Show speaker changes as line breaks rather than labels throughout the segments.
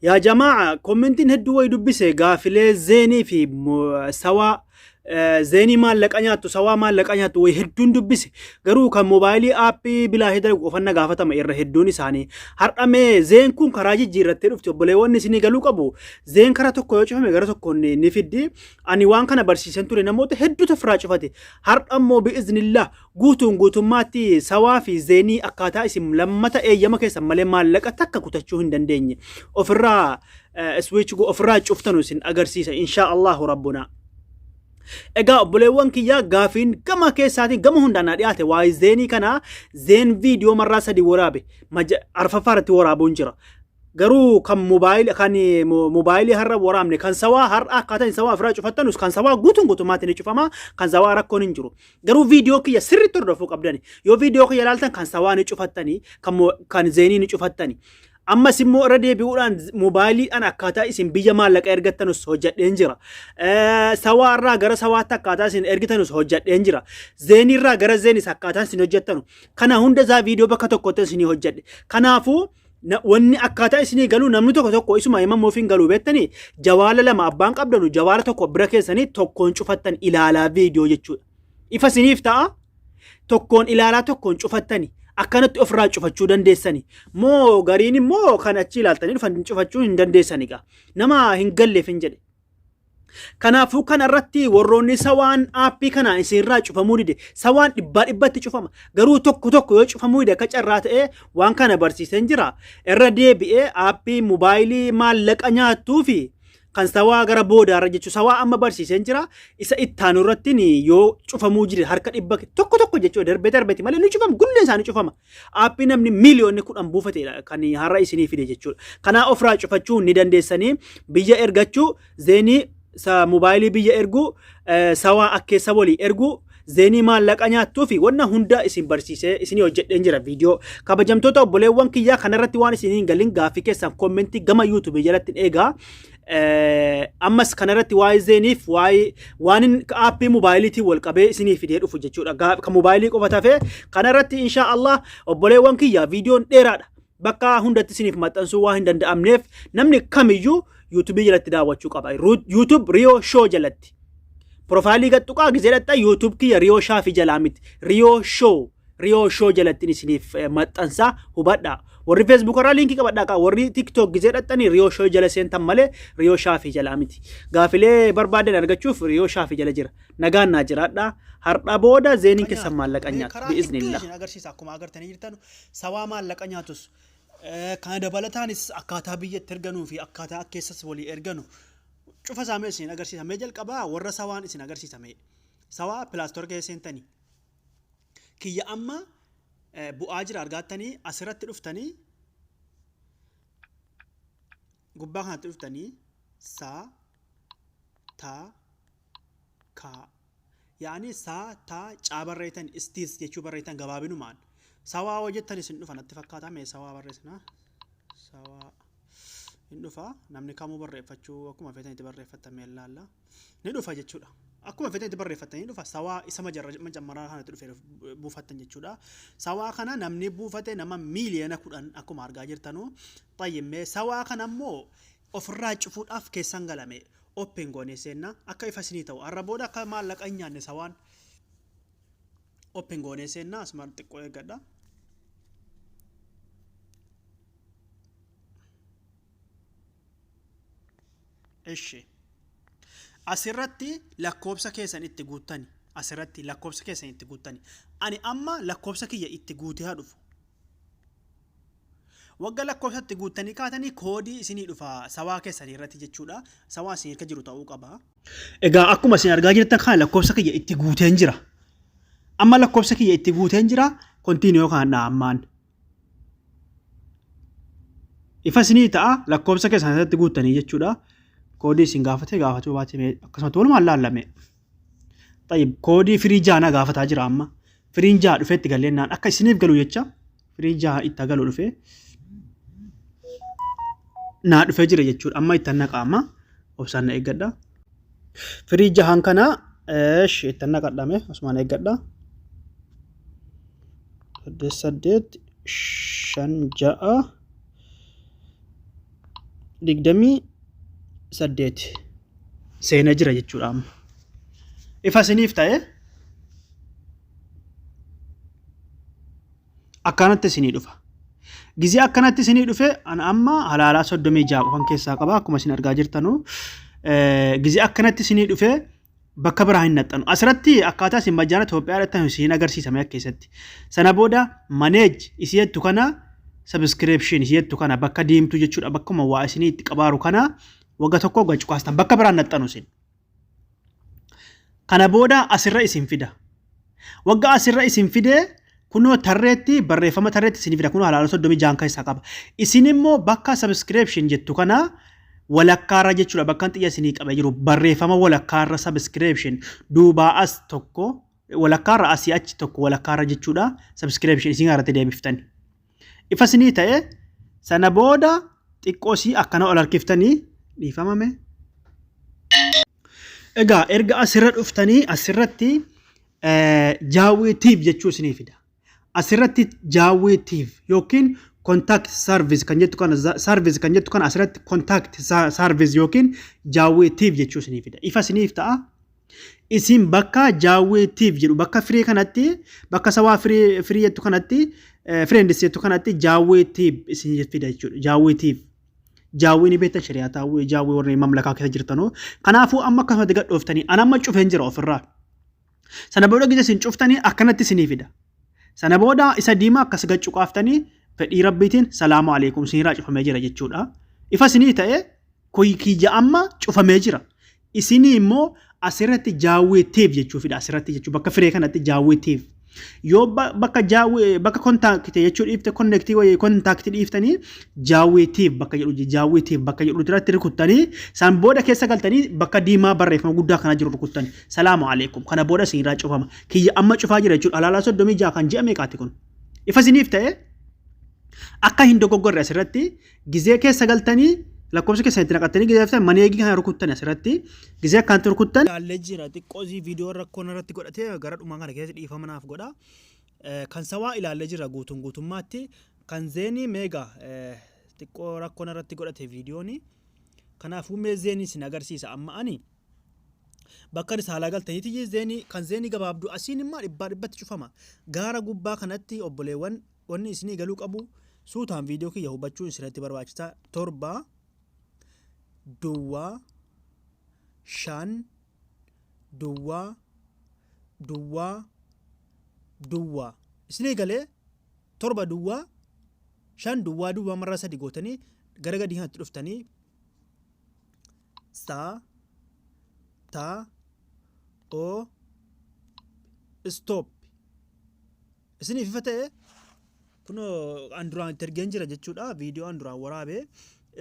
Yaa jamaa'a kommentiin hedduu wayi dubbise gaafilee zeenii fi sawaa zeenii maallaqa nyaattu sawaa maallaqa nyaattu wayi hedduun dubbise garuu kan moobaayilii aappii bilaa hidara qofanna gaafatama irra hedduun isaanii har'a mee zeen kun karaa jijjiirrattee dhufti obboleewwan isinii galuu qabu zeen karaa tokko yoo cufame gara tokkoon ni fiddi ani waan kana barsiisan ture namoota hedduutu ofirraa cufate har'a immoo bi'iznillaa Guutuun guutummaatti sawaa fi zeenii akkaataa isin lammata eeyyama keessan malee maallaqa takka kutachuu hin dandeenye ofirraa switch go ofirraa cuftanu isin agarsiisa inshaa Allahu rabbuna. Egaa obboleewwan kiyyaa gaafiin gama keessaatiin gama hundaan naa dhiyaate waa'ee zeenii kana zeen viidiyoo marraa sadii waraabe maja- arfaffaa irratti waraabuun jira. Garuu kan mobaayilii kan eh, mo- mobaayilii har'a waraabne kan sawaa har'a akkaataa isin sawaa ofirraa cufattanus kan sawaa guutuun guutummaatti ni cufama kan sawaa rakkoon hin jiru. Garuu viidiyoo kiyya sirriitti hordofuu qabdani. Yoo viidiyoo kiyya ilaaltan kan sawaa ni cufattani, kan mo- kan zeenii ni cufattani. Ammas immoo irra deebi'uudhaan z- moobaayiliidhaan akkaataa isin biyya maallaqa ergattanus hojjadheen jira. Eh, Sawaa irraa gara sawaatti akkaataa isin ergitanus hojjadheen jira. Zeenii irraa gara zeenis akkaataa isin hojjattanu. Kana hunda isaa viidiyoo bakka tokkotti isinii hojjadhe. Kanaafuu Na- Wanni akkaataa isinii galuu namni tokko tokko isuma himama ofiin galuu beektanii jawaala lama abbaan qabdanu jawaala tokko bira keessanii tokkoon cufattan ilaalaa viidiyoo jechuudha. Ifa isiniif ta'a tokkoon ilaalaa tokkoon cufattani akkanatti ofirraa cufachuu dandeessani moo gariin immoo kan achi ilaaltanii dhufan cufachuu hin dandeessani gaa nama hin galleef hin jedhe. Kanaafuu kana irratti warroonni sawaan aappii kanaa isinirraa cufamuu dide sawaan dhibbaa dhibbatti cufama garuu tokko tokko yoo cufamuu dide akka carraa ta'ee waan kana barsiiseen jira irra deebi'ee aappii mobaayilii maallaqa nyaattuu fi kan sawaa gara boodaarra jechuun sawaa amma barsiiseen jira isa ittaanu irratti yoo cufamuu jide harka dhibba tokko tokko jechuudha darbee darbeeti malee ni cufama gulleen isaanii cufama Aappii namni miiliyoonni kudhan buufateedha kan har'a isinii fide jechuudha. Kanaa ofirraa cufachuu ni dandeessanii biyya ergachuu zeenii sa mobaayilii biyya erguu eh, sawaa akkeessa walii erguu zeenii maallaqa nyaattuu fi wanna hunda isin barsiisee isinii hojjedheen jira viidiyoo. Kabajamtoota obboleewwan kiyyaa kanarratti waan isinii hin galin gaaffii keessan kommentii gama yuutuubii jalatti hin eegaa. ammas kanarratti waa'ee zeeniif waa'ee waanin aappii moobaayiliitiin wal qabee isinii fidee dhufu jechuudha. Gaa- Kan moobaayilii qofa tafee kanarratti insha Allah obboleewwan kiyya viidiyoon dheeraadha. Bakka hundatti isiniif maxxansuu waan hin danda'amneef namni kamiyyuu yuutuubii jalatti daawwachuu qaba. Yuutuub Riyoo Shoo jalatti. Profaayilii gad tuqaa gizee dhaxxa yuutuub kiyya Riyoo Shaafii jalaa miti. Riyoo Shoo. Riyoo Show jalattin isiniif eh, maxxansaa hubadhaa. Warri Facebook irraa liinkii qabadhaa kaa warri TikTok gizee dhaxxanii Riyoo Show jala seentan malee Riyoo Shaafii jalaa miti. Gaafilee barbaadan argachuuf Riyoo Shaafii jala jira. Nagaan naa jiraadhaa. Har'a booda zeeniin keessan maallaqa nyaata. Karaa TikTok Bi'iznillah. isin agarsiisa akkuma agartanii jirtan sabaa maallaqa nyaatus eh, kana dabalataanis akkaataa biyyatti erganuu fi akkaataa keessas walii erganu cufa isaa mee isin agarsiisa mee jalqabaa warra sawaan isin agarsiisa mee sawaa pilaastoor keessa seentanii kiyya amma bu'aa jira argaattanii asirratti dhuftanii gubbaa kanatti dhuftanii saa taa kaa yaani saa taa caa barreeytan istiis jechuu barreeytan gabaabinumaan sawaa hoo jettan isin dhufa natti fakkaataa mee sawaa barreessina sawaa hin dhufa namni kamuu barreeffachuu akkuma feetanitti barreeffattan mee ilaalla. ni dhufa jechuudha. Akkuma feetan itti barreeffattan ni dhufa. Sawaa isa majarra macammaraa kana itti dhufee buufattan jechuudha. Sawaa kana namni buufate nama miiliyoona kudhan akkuma argaa jirtanu. Xayyimmee sawaa kana immoo ofirraa cufuudhaaf keessan galame open goonee seenna akka ifa isinii ta'u har'a booda akka maallaqa hin nyaanne sawaan open goonee seenna asuma xiqqoo eeggadha. Ishi. Asirratti lakkoobsa keessan itti guuttani. Asirratti lakkoobsa keessan itti guuttani. Ani amma lakkoobsa kiyya itti guutee haa dhufu. Wagga lakkoobsa itti guuttanii kaatanii koodii isinii dhufa sawaa keessanii irratti jechuudha. Sawaa isin irka jiru ta'uu qaba. Egaa akkuma isin argaa jirtan kana lakkoobsa kiyya itti guuteen jira. Amma lakkoobsa kiyya itti guuteen jira. Kontiiniyoo kana ammaan. Ifa isinii ta'a lakkoofsa keessan asirratti guuttanii jechuudha. Koodii isin gaafate gaafachuu baatee akkasumatti walumaan laallame. Tayyib koodii firii jaana gaafataa jira amma. Firiin jaa dhufee itti galleennaan akka isiniif galu jecha firiin jaa itti galu dhufee naa dhufee jira jechuudha. Amma itti annaqa amma obsaan na eeggadha. Firii jahaan kana itti annaqadhame osuma na eeggadha. saddeet saddeet shan ja'a digdamii saddeet seena jira jechuudha amma ifa isiniif ta'e akkanatti isinii dhufa gizee akkanatti isinii dhufe ana amma halaalaa soddomii ja'a qofan keessaa qaba akkuma isin argaa jirtanuu gizee akkanatti isinii dhufe bakka biraa hin naxxanu. Asirratti akkaataa isin majjaana Itoophiyaa irratti isin agarsiisame akka keessatti. Sana booda maneej isii jettu kana sabiskireepshin isii jettu kana bakka diimtuu jechuudha bakkuma waa isinii itti qabaaru kana wagga tokko gachu kaastan bakka biraa hin naxxanu isin. Kana booda asirra isin fida. Wagga asirra isin fide kunoo tarreetti barreeffama tarreetti isin fida kunoo halaala soddomii jaan keessaa qaba. Isin immoo bakka subscription jettu kana walakkaarra jechuudha bakka xiyya isinii qabee jiru barreeffama walakkaarra subscription duubaa as tokko walakkaarra asii achi tokko walakkaarra jechuudha subscription isin irratti deebiftani. Ifa isinii ta'e sana booda xiqqoo isii akkana ol harkiftanii dhiifamame. Egaa erga asirra dhuftanii asirratti jaawwiitiif jechuu isinii fida. Asirratti jaawwiitiif yookiin contact service kan jettu kana service kan jettu kana asirratti contact service yookiin jaawwiitiif jechuu isinii fida. Ifa isiniif ta'a Isin bakka jaawwee tiif jedhu bakka firee kanatti bakka sawaa firee firii jettu kanatti eh, friends jettu kanatti jaawwee tiif isin fida jechuudha. Jaawwee tiif. Jaawwee ni beektan shari'aa taawwee jaawwee warri mamlakaa keessa jirtanoo. Kanaafuu amma akkasumatti gadhooftanii an amma cufeen jira ofirraa. Sana booda gisa isin cuftanii akkanatti isinii fida. Sana booda isa diimaa akkas gachuu qaaftanii fedhii rabbiitiin salaamu alaikum isinirraa cufamee jira jechuudha. Ifa isinii ta'e kiyya amma cufamee jira. Isinii immoo asirratti jaawwee tiif jechuu fida asirratti jechuu bakka firee kanatti jaawwee tiif. Yoo ba- bakka jaawwee bakka kontaakite jechuu dhiifte konnektii wayii kontaakti dhiiftanii jaawwee tiif bakka jedhu je- jaawwee tiif bakka jedhu irratti rukuttanii san booda keessa galtanii bakka diimaa barreeffama guddaa kana jiru rukuttani. Salaamu alaikum kana booda isin irraa cufama. Kiyya amma cufaa jira jechuudha alaalaa soddomii ja'a kan ji'a meeqaati kun. Ifa isiniif ta'ee akka hin dogoggorre asirratti Gizee keessa galtanii lakkoofsa keessan itti naqattanii gizee galtan maneegii kana rukuttan asirratti gizee akkanatti rukuttan. Ilaallee jira xiqqoo zii viidiyoo rakkoon irratti godhatee gara dhumaa kana keessatti dhiifama naaf godha. Kan sawaa ilaallee jira guutuun guutummaatti kan zeenii meegaa xiqqoo rakkoon irratti godhate viidiyooni. Kanaafuu mee zeenii isin agarsiisa amma ani. bakka isa haalaa galtaniiti zeenii kan zeenii gabaabduu asiin immoo dhibbaa dhibbatti cufama gaara gubbaa kanatti obboleewwan Wanni isinii galuu qabu suutaan viidiyoo kiyya hubachuu isinirratti barbaachisa. 7 duwwaa 5 duwwaa duwwaa duwwaa isinii galee 7 duwwaa 5 duwwaa duwwaa marraa sadi gootanii gara gadii kanatti dhuftanii saa taa oo stop Isiniif ifa ta'e kunoo an duraan itti ergeen jira jechuudha viidiyoo an duraan waraabe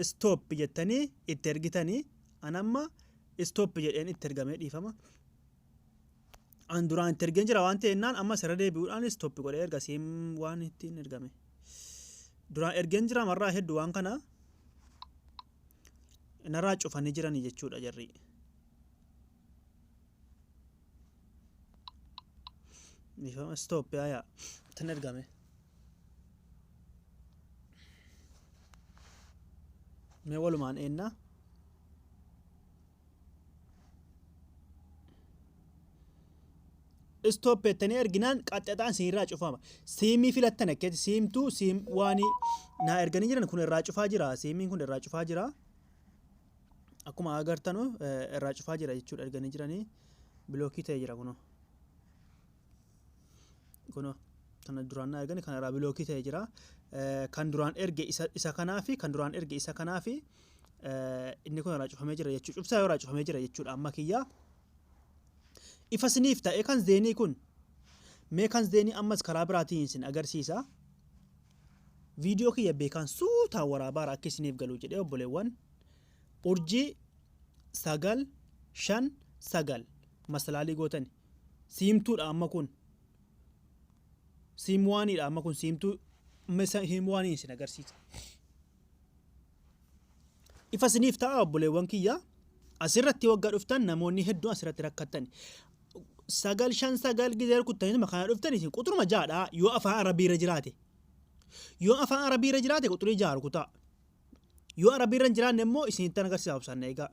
stop jettanii itti ergitanii an amma stop jedheen itti ergamee dhiifama. An duraan itti ergeen jira waan ta'e innaan amma sirra deebi'uudhaan stop godhee erga siim waan ittiin ergame. Duraan ergeen jira marraa hedduu waan kana narraa cufanii jiranii jechuudha jarri. Dhiifama stop yaa yaa. Ittiin ergame. Mee walumaan eennaa. Stop jettanii erginaan qaxxataan siin irraa cufama. Siimii filattan akkeetti siimtuu siim waanii naa erganii jiran kun irraa cufaa jira. Siimiin kun irraa cufaa jira. akkuma agartanu irraa cufaa jira jechuudha erganii jiranii bilookii ta'e jira kunoo kunoo kana duraan na ergani kana irraa bilookii ta'e jira kan duraan erge isa isa kanaa fi kan duraan erge isa kanaa fi inni kun irraa cufamee jira jechuudha cufsaa yoo irraa cufamee jira jechuudha amma kiyyaa ifa siniif ta'e kan zeenii kun mee kan zeenii ammas karaa biraatiin isin agarsiisa Video kiyya beekaan suutaan waraabaara akka isiniif galuu jedhee obboleewwan urjii sagal shan sagal masalaalii gootani siimtuudha amma kun siimwaaniidha amma kun siimtuu mesa hiimwaaniin isin agarsiisa. Ifa isiniif ta'a obboleewwan kiyya. Asirratti wagga dhuftan namoonni hedduun asirratti rakkattani. Sagal shan sagal gizee rukuttanii kana dhuftan isin quxuruma jaadha yoo afaan arabii irra jiraate. Yoo afaan arabii irra jiraate quxurii jaa rukutaa. Yoo arabii irra hin jiraanne immoo isinittan agarsiisa obsaan eegaa.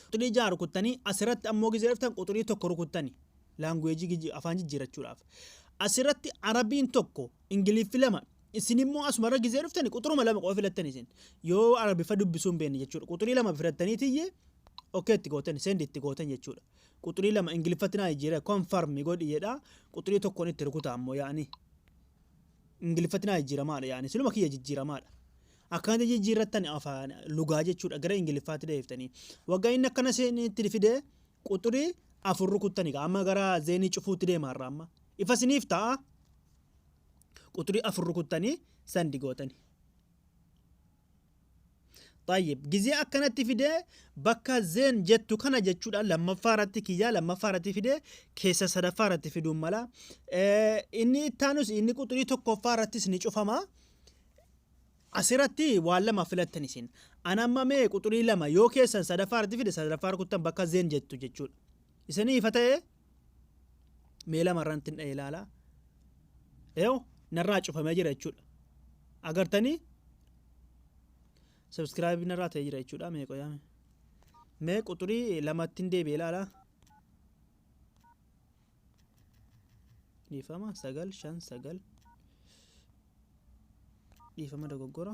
Quxurii jaa rukuttanii asirratti ammoo gizee dhuftan quxurii tokko rukuttani. Laanguweejii afaan jijjiirachuudhaaf. Asirratti arabiin tokko Ingiliffi lama. Isin immoo asumarra gizee dhuftani quxuruma lama qofa filattan isin. Yoo arabiffa dubbisuu hin beekne jechuudha. Quxurii lama filattanii tiyye okay itti gootan send itti gootan jechuudha. Quxurii lama ingiliffatti naa jijjiira confirm godhi jedha quxurii tokkoon itti rukuta ammoo yaani. Ingiliffatti naa jijjiiramaadha yaani siluma kiyya jijjiiramaadha. Akkanatti jijjiirrattan afaan lugaa jechuudha gara ingiliffaatti deebiftanii. Waggaa inni akkana itti fide quxurii afur rukuttani amma gara zeenii cufuutti deema har'a amma. Ifa isiniif ta'a. quxurii afur rukuttanii sandi gootani طيب gizee akkanatti fidee bakka zeen jettu kana jechuudha lammaffaa irratti kiyyaa lammaffaa irratti fidee keessa sadaffaa irratti fiduun mala Eh, inni ittaanus inni quxurii tokkoffaa irrattis ni cufama asirratti waan lama filattan isin an amma mee quxurii lama yoo keessan sadaffaa irratti fide sadaffaa rukuttan bakka zeen jettu jechuudha isinii ifa ta'ee mee lamarraa ittiin dha'ee ilaalaa yoo narraa cufamee jira jechuudha agartanii subscribe narraa ta'ee jira jechuudha mee qoyaame mee quxurii lamattiin deebi'ee ilaalaa dhiifama sagal shan sagal dhiifama dogoggora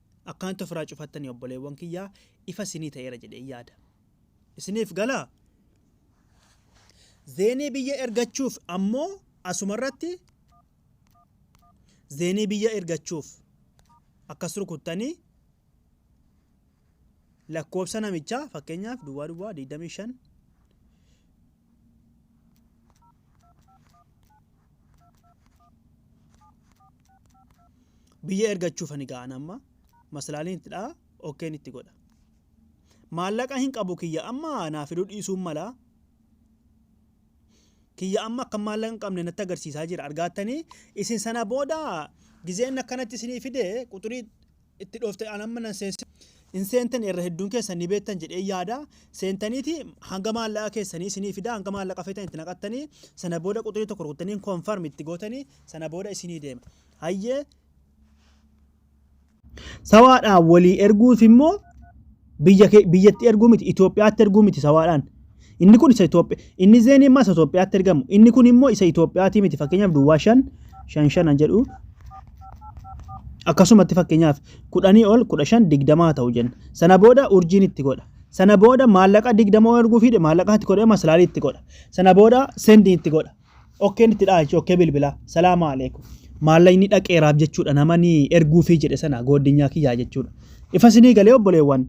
akkanatti ofiraa cufattanii obboleewwan kiyyaa ifa isinii ta'eera jedheen yaada. Isiniif galaa? Zeenii biyya ergachuuf ammoo asumarratti zeenii biyya ergachuuf akkas rukuttanii lakkoofsa namichaa fakkeenyaaf duwwaa duwwaa 25 biyya ergachuuf ani ga'an amma maslaaliin itti dha'a okkeen itti godha maallaqa hin qabu kiyya amma naa fiduu dhiisuun mala kiyya amma akka maallaqa hin qabne natti agarsiisaa jira argaattanii isin sana booda gizeen akkanatti isinii fide quxurii itti dhoofte an amma nan seensisa. Hin seentani irra hedduun keessan ni beektan jedhee yaada. Seentaniiti hanga maallaqa keessanii isinii fida hanga maallaqa feetan itti naqattanii sana booda quxurii tokko rukuttanii confirm itti gootanii sana booda isinii deema. Hayyee Sawaadhaan walii erguuf immoo Biyya kee biyyatti erguu miti Itoophiyaatti erguu miti sawaadhaan. Inni kun isa Itoophiyaa inni zeenii immoo isa Itoophiyaatti ergamu inni kun immoo isa Itoophiyaatii miti fakkeenyaaf duwwaa shan shan shanan jedhu akkasumatti fakkeenyaaf kudhanii ol kudha shan digdamaa ta'u jenna. Sana booda urjiin itti godha. Sana booda maallaqa digdamoo erguu fiide maallaqaa itti godhee maslaalii itti godha. Sana booda sendii itti godha. Okkeen itti dha'a jechuudha. Okkee bilbilaa. Salaamu alaikum. Maallaqni dhaqeeraaf jechuudha. Namani erguufii jedhe sana goodinyaa kiyyaa jechuudha. Ifa sinii galee obboleewwan.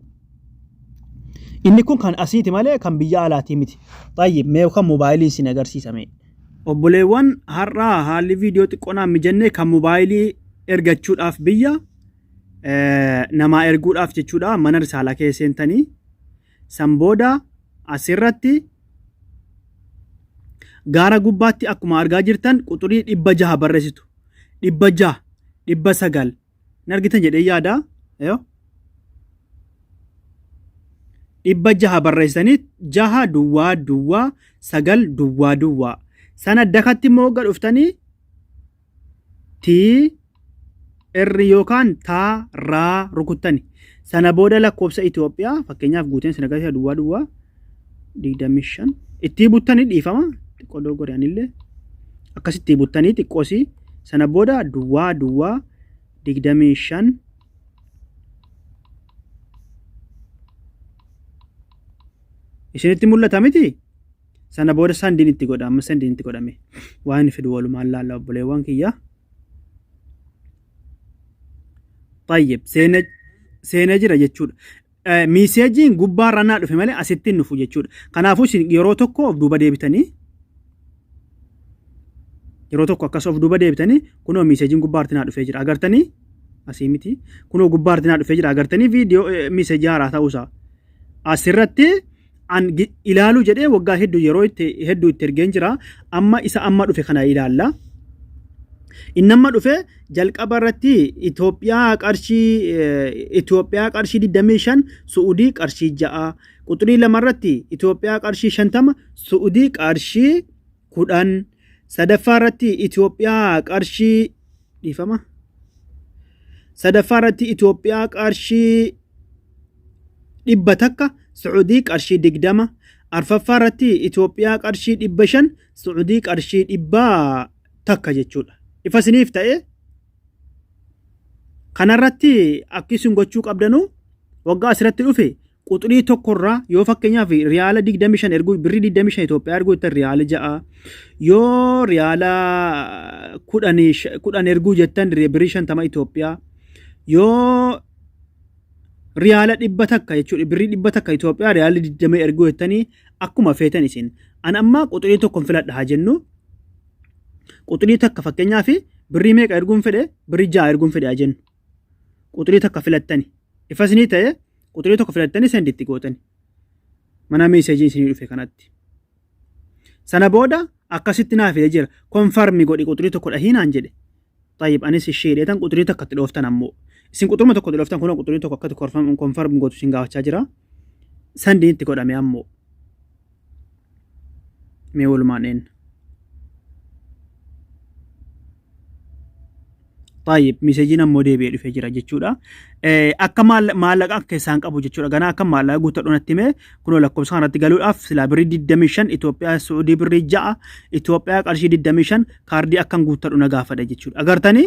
Inni kun kan asiiti malee kan biyya alaatii miti. Xayyib mee kan moobaayiliin sin agarsiisame. Obboleewwan har'aa haalli viidiyoo xiqqoonaan mijannee kan moobaayilii ergachuudhaaf biyya namaa erguudhaaf jechuudha mana risaalaa kee seentanii San booda asirratti gaara gubbaatti akkuma argaa jirtan quxurii dhibba jaha barreessitu. Dhibba jaha, dhibba sagal. Hin argitan jedhee yaada. Dhibba jaha barreessanii jaha duwwaa duwwaa sagal duwwaa duwwaa. Sana dakatti immoo hogga dhuftanii tii erri yookaan taa raa rukuttani. Sana booda lakkoofsa Itoophiyaa fakkeenyaaf guuteen sin agarsiisa duwwaa duwwaa 25 ittii buttanii dhiifama xiqqoo dogoggore anillee akkas ittii buttanii xiqqoosii sana booda duwwaa duwwaa 25 isinitti mul'ata miti Sana booda sandiin itti godha amma sandiin itti godhame waan inni fidu walumaan laalla obboleewwan kiyya. Tayyib seena seena jira jechuudha. Eh, Miiseejiin gubbaa ranaa dhufe malee asitti hin dhufu jechuudha. Kanaafuu isin yeroo tokko of duuba deebitanii yeroo tokko akkas of duuba deebitanii kunoo miiseejiin gubbaa artinaa dhufee jira agartanii asii miti kunoo gubbaa artinaa dhufee jira agartanii viidiyoo eh, miiseejii haaraa ta'uusaa asirratti an gi- ilaaluu jedhee waggaa hedduu yeroo itti hedduu itti ergeen jira amma isa amma dhufe kana ilaalla inni amma dhufe jalqaba irratti Itoophiyaa qarshii eh, Itoophiyaa qarshii 25 Su'udii qarshii 6 quxurii lama irratti Itoophiyaa qarshii 50 Su'udii qarshii kudhan sadaffaa irratti Itoophiyaa qarshii dhiifama sadaffaa irratti Itoophiyaa qarshii dhibba takka Su'udii qarshii digdama arfaffaa irratti Itoophiyaa qarshii dhibba shan Su'udii qarshii dhibba takka jechuudha. Ifa isiniif ta'e kanarratti akki isin gochuu qabdanu waggaa asirratti dhufe quxurii tokko irraa yoo fakkeenyaaf riyaala 25 erguu birrii 25 Itoophiyaa erguu jettan riyaala 6 yoo riyaala 10 10 erguu jettan birrii 50 Itoophiyaa yoo riyaala dhibba takka jechuudha birrii dhibba takka Itoophiyaa riyaala 20 erguu jettanii akkuma feetan isin an amma quxurii tokko filadha haa jennu quxurii takka fakkeenyaaf birrii meeqa erguun fedhe birrii 6 erguun fedhe haa jennu quxurii takka filattani ifasnii ta'e Quxurii tokko filattanii sendi itti gootani. Mana meeseejiin isinii dhufe kanatti. Sana booda akkasitti naa fide jira. Konfarmi godhi quxurii tokko dhahii naan jedhe. Tayyib anis ishee hidheetan quxurii takka itti dhooftan ammoo. Isin quxuruma tokko itti dhooftan kunoo quxurii tokko akkatti konfarmi gootu isin gaafachaa jira. Sandiin itti godhame ammoo. Mee walumaan dheenna. Taayib miseejiin ammoo deebi'ee dhufee jira jechuudha. Akka maallaqa akka isaan qabu jechuudha. Ganaa akka maallaqa guuttadhu natti himee kunoo lakkoofsa kanarratti galuudhaaf silaa birrii 25 Itoophiyaa Suudii birrii 6 Itoophiyaa qarshii 25 kaardii akkan guuttadhu na gaafadha jechuudha. Agartanii?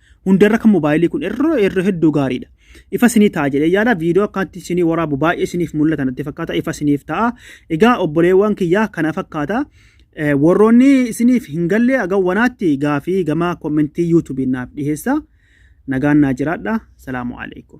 Hundarra kan mobaayilii kun irra irra hedduu gaariidha. Ifa sinii ta'a jedhee yaada viidiyoo akkaatti sinii waraabu baay'ee siniif mul'ata natti fakkaata ifa siniif ta'a. Egaa obboleewwan kiyyaa kana fakkaata. Eh, Warroonni isiniif hin galle agan wanaatti gaafii gama kommentii yuutuubiin naaf dhiheessa. Nagaan naa jiraadha. Salaamu alaikum.